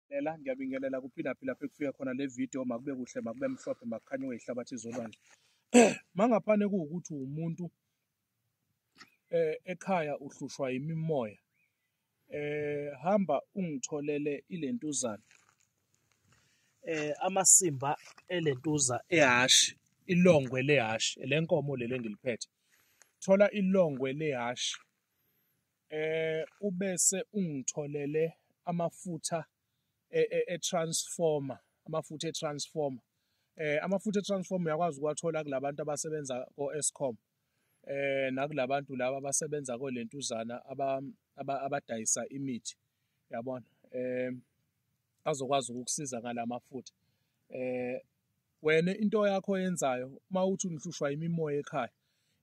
Ngiyabingelela, ngiyabingelela kuphilaphi lapho ekufika khona le video makube kuhle makube mhlophe makukhanye weyihlabathi izolwandle mangaphane kuwukuthi umuntu eh ekhaya uhlushwa imimoya eh hamba ungitholele ilentuzana eh amasimba elentuza ehashi ilongwe lehashi lenkomo lele ngiliphethe thola ilongwe lehashi eh ubese ungitholele amafutha e, e, e transformer amafutha e transformer eh amafutha e transformer uyakwazi ukwathola kulabantu abasebenza ko Eskom eh nakulabantu laba abasebenza ko lentuzana aba abadayisa imithi yabona eh azokwazi ukukusiza ngalamafutha eh Wena into yakho oyenzayo uma uthi unihlushwa imimoya ekhaya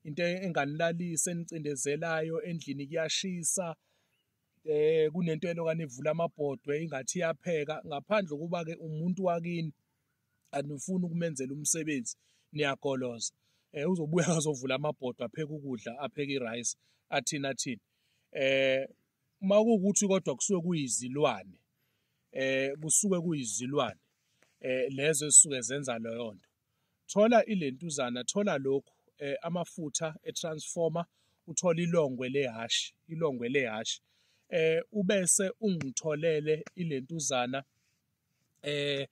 into enganilalisa enicindezelayo endlini kuyashisa eh kunento elokane ivula amabhodwe ingathi iyapheka ngaphandle kuba ke umuntu wakini anifuni ukumenzela umsebenzi niyagoloza eh uzobuya azovula amabhodwe apheke ukudla apheke irice athina thina eh uma kuwukuthi kodwa kusuke kuyizilwane eh kusuke kuyizilwane eh lezo esuke zenza leyo nto thola ilentuzana thola lokhu eh amafutha etransformer uthola ilongwe lehashi ilongwe lehashi eh ubese ungitholele ilentuzana eh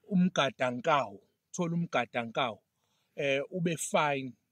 umgadankawu thola umgadankawu eh ube fine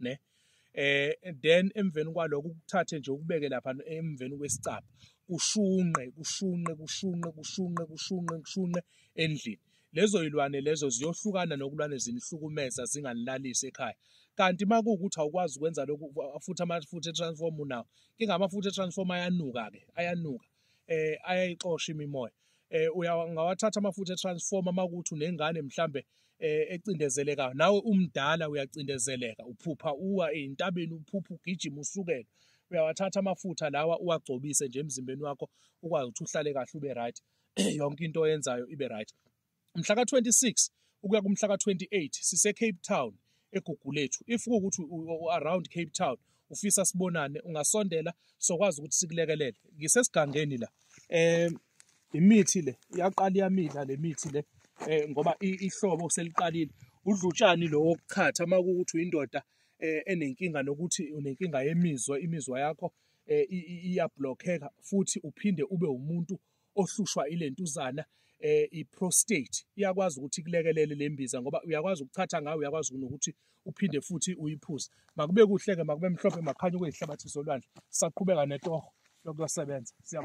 ne eh then emveni kwaloko ukuthathe nje ukubeke lapha emveni kwesicaba kushunqe kushunqe kushunqe kushunqe kushunqe kushunqe endlini lezo yilwane lezo ziyohlukana nokulwane zinihlukumeza zinganilalisi ekhaya kanti uma kuwukuthi awukwazi ukwenza lokhu futhi amafutha e-transform unawo ingamafutha e-transform ayanuka-ke ayanuka eh ayayixosha imimoya eh uyangawathatha amafutha etransformer makuthi unengane mhlambe eh ecindezelekayo nawe umdala uyacindezeleka uphupha uwa ezintabeni uphupha ugijima usukela uyawathatha amafutha lawa uwagcobise nje emzimbeni wakho ukwazi ukuthi uhlale kahle ube right yonke into oyenzayo ibe right mhla ka-26 ukuya kumhla ka-28 sisecape town egugulethu if kuwukuthi u-around cape town ufisa sibonane ungasondela sokwazi ukuthi sikulekelele ngisesigangeni la um imithi le iyaqala iyamila le mithi le um ngoba ihlobo seliqalile udlutshani lo wokuchatha uma kuwukuthi uyindoda um enenkinga nokuthi unenkinga yemizwa imizwa yakho um iyablokheka futhi uphinde ube wumuntu ohlushwa ilentuzana eh iprostate iyakwazi ukuthi kulekelele lembiza ngoba uyakwazi ukuthatha ngayo uyakwazi nokuthi uphinde futhi uyiphuze makube kuhle ke makube mhlophe makhanya kuyihlabathi solwandle saqhubeka netoho lokusebenza